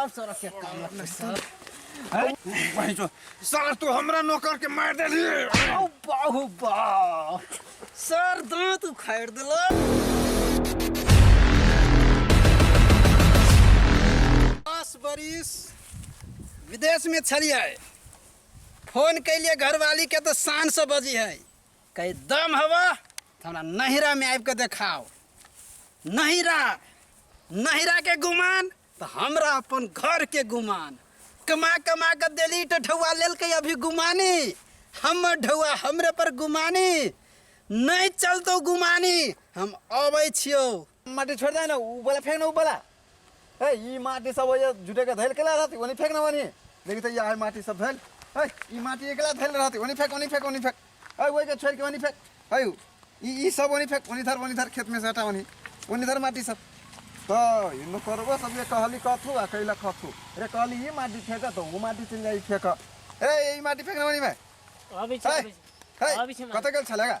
अब सर के काम लगतै सर वहीं जो सर तू हमरा नौकर के मार देली औ बाहु बा सर दांत उखाड़ देला दस बरिस विदेश में छलिए फोन कैलिए घरवाली के तो शान से बजी है कहीं दम हव तो हमरा नहिरा में आबि के देखाओ नहिरा नहिरा के गुमान तो हमरा अपन घर के गुमान कमा कमा के देली तो ढौआ लेल के अभी गुमानी हमर ढौआ हमरे पर गुमानी नहीं चलतो गुमानी हम अबै छियौ माटी छोड़ दे ना ऊ वाला फेंक ना ऊ वाला ए ई माटी सब ओए जुटे के धैल केला रहती ओनी फेंक ना ओनी देखी त यहाँ माटी सब धैल ए ई माटी एकला धैल रहती ओनी फेंक ओनी फेंक ओनी फेंक ए ओए के छोड़ के ओनी फेंक ए ऊ, ई ई सब ओनी फेंक ओनी धर ओनी धर खेत में से हटा ओनी ओनी धर माटी सब तो इनो करबो सब ये कहली कथू आ कैला कथू अरे कहली ई माटी फेंक तो ऊ माटी चल जाई फेंक ए ई माटी फेंक ना ओनी में अभी ए, छै ए, अभी छै कतऽ गेल छलेगा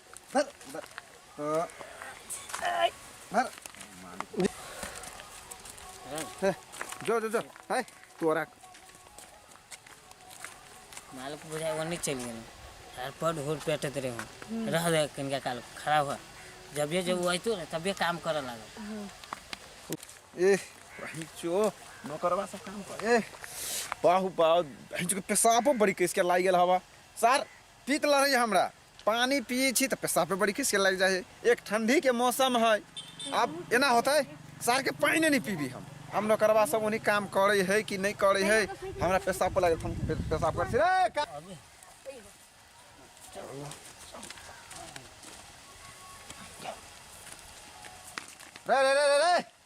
Bar. Bar. Oh. Ay. Bar. Heh. Jo jo jo. Hai. Tuarak. मालिक बुझाए वो नहीं चली गई यार बड होर पेटे तेरे हो रह दे कनका काल खराब हो जब ये जब वो आई तो तब ये काम करे लगा ए वही चो नौकरवा सब काम कर ए बाहु बाहु भैंस के पेशाबो बड़ी के इसके लाग गेल हवा सर तीत लड़े हमरा पानी पियै छी तऽ पेशाब पे बड़ी खीस के लागि जाइ है एक ठंडी के मौसम है आब एना होतै सार के पानि नहि पीबी हम हम नौकरबा सब उन्हीं काम करे है कि नहीं करे है हमरा पेशाब पे लागल हम पे- पेशाब कर छी रे का- रे रे रे रे रे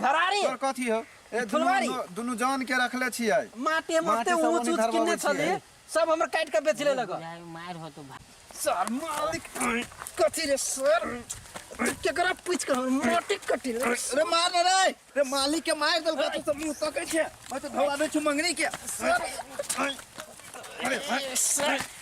घरारी तोर कथी हो ए दुनू फुलवारी। दुनू जान के रखले छियै माटी हम माटी ओते सब ऊंच ओनी ऊंच धरबाबै किनने छियै। छली सब हमर काट के बेच ले लगा बुझाइ मारि होतो भा सर मालिक कथी रे सर केकरा पूछ के हमर माटी कटी रे रे मार न रे रे मालिक के मार देलका तू सब मुंह तकै छै मैं तो धोवा दे छु मंगनी के सर सर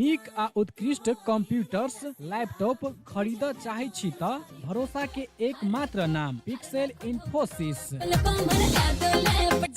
नीक आ उत्कृष्ट कंप्यूटर्स लैपटॉप खरीद चाहे छी त भरोसा के एकमात्र नाम पिक्सेल इन्फोसिस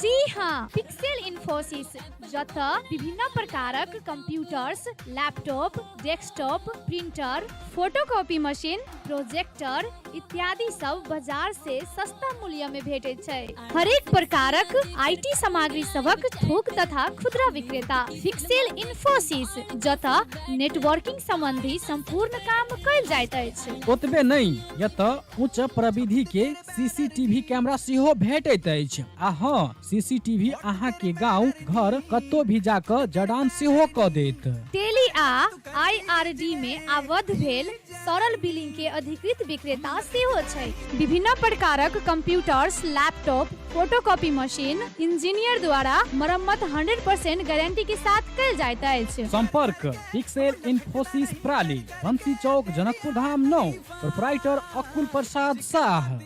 जी हाँ पिक्सेल इन्फोसिस जत विभिन्न प्रकारक computers laptop desktop printer photocopy machine projector इत्यादि सब बाजार से सस्ता मूल्य में भेटे छै हरेक प्रकारक आईटी सामग्री सबक थोक तथा खुदरा विक्रेता फिक्सेल इन्फोसिस जत नेटवर्किंग संबंधी संपूर्ण काम कल जाइत अछि ओतबे नहि यत उच्च प्रविधि के सीसीटीवी कैमरा सेहो भेटैत अछि आ हँ सीसीटीवी अहाँ के गांव घर कत्तो भी जाकर जडान सेहो क देत टेली आ आईआरडी मे आबद्ध भेल सरल बिलिंग के अधिकृत विक्रेता सेहो छै विभिन्न प्रकारक computers laptop photocopy machine engineer द्वारा मरम्मत 100% गारंटी के साथ कल जाइत अछि संपर्क पिक्सेल इन्फोसिस प्राली बंसी चौक जनकपुर धाम नौ प्रोपराइटर अकुल प्रसाद शाह